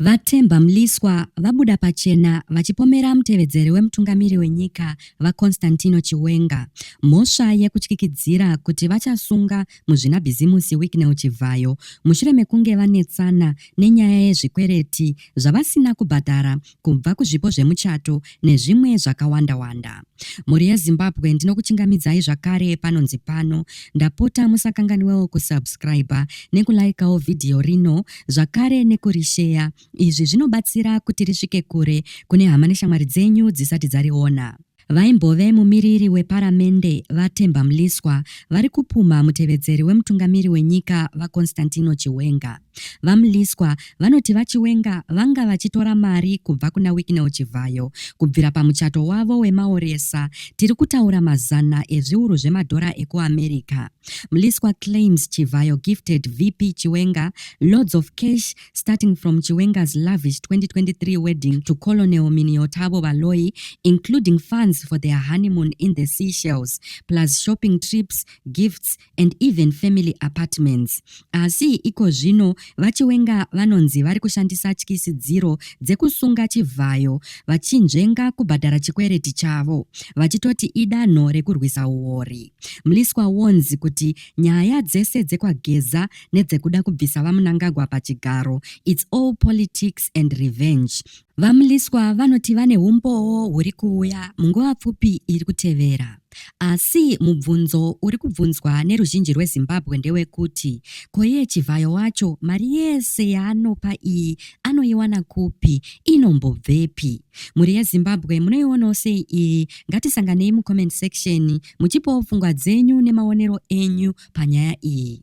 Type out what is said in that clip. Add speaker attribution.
Speaker 1: VaThemba Mliswa vabuda pachena vachipomera mutevedzeri wemutungamiri wenyika, VaConstantino Chiwenga, mhosva yekutyikidzira kuti vachasunga muzvinabhizimusi Wicknell Chivhayo mushure mekunge vanetsana nenyaya yezvikwereti zvavasina kubhadhara kubva kuzvipo zvemuchato nezvimwe zvakawanda wanda. Mhuri yeZimbabwe ndinokuchingamidzai zvakare panonzi pano. Ndapota musakanganiwewo kusubscriber nekulaikawo vhidhiyo rino zvakare nekurisheya. Izvi zvinobatsira kuti risvike kure kune hama neshamwari dzenyu dzisati dzariona. Vaimbove mumiriri weparamende VaTemba Mliswa vari kupumha mutevedzeri wemutungamiri wenyika VaConstantino Chiwenga. VaMliswa vanoti VaChiwenga vanga vachitora mari kubva kuna Wicknell Chivhayo kubvira pamuchato wavo wemaoresa, tiri kutaura mazana ezviuru zvemadhora ekuAmerica. Mliswa claims Chivhayo gifted VP Chiwenga loads of cash starting from Chiwenga's lavish 2023 wedding to Colonel Miniotabo Baloyi, including funds for their honeymoon in the Seychelles, plus shopping trips, gifts, and even family apartments. Asi iko zvino VaChiwenga vanonzi vari kushandisa tyisidziro dzekusunga chivhayo vachinzvenga kubhadhara chikwereti chavo vachitoti idanho rekurwisa huori. Mliswa wonzi kuti nyaya dzese dzekwageza nedzekuda kubvisa VaMnangagwa pachigaro it's all politics and revenge. VaMliswa vanoti vane umbowo huri kuuya munguva pfupi iri kutevera. Asi mubvunzo uri kubvunzwa neruzhinji rweZimbabwe ndewekuti ko iye Chivhayo wacho mari yese yaanopa iyi anoiwana kupi, inombobvepi? Mhuri yeZimbabwe munoionawo sei iyi? Ngatisanganei mucomment section muchipawo pfungwa dzenyu nemaonero enyu panyaya iyi.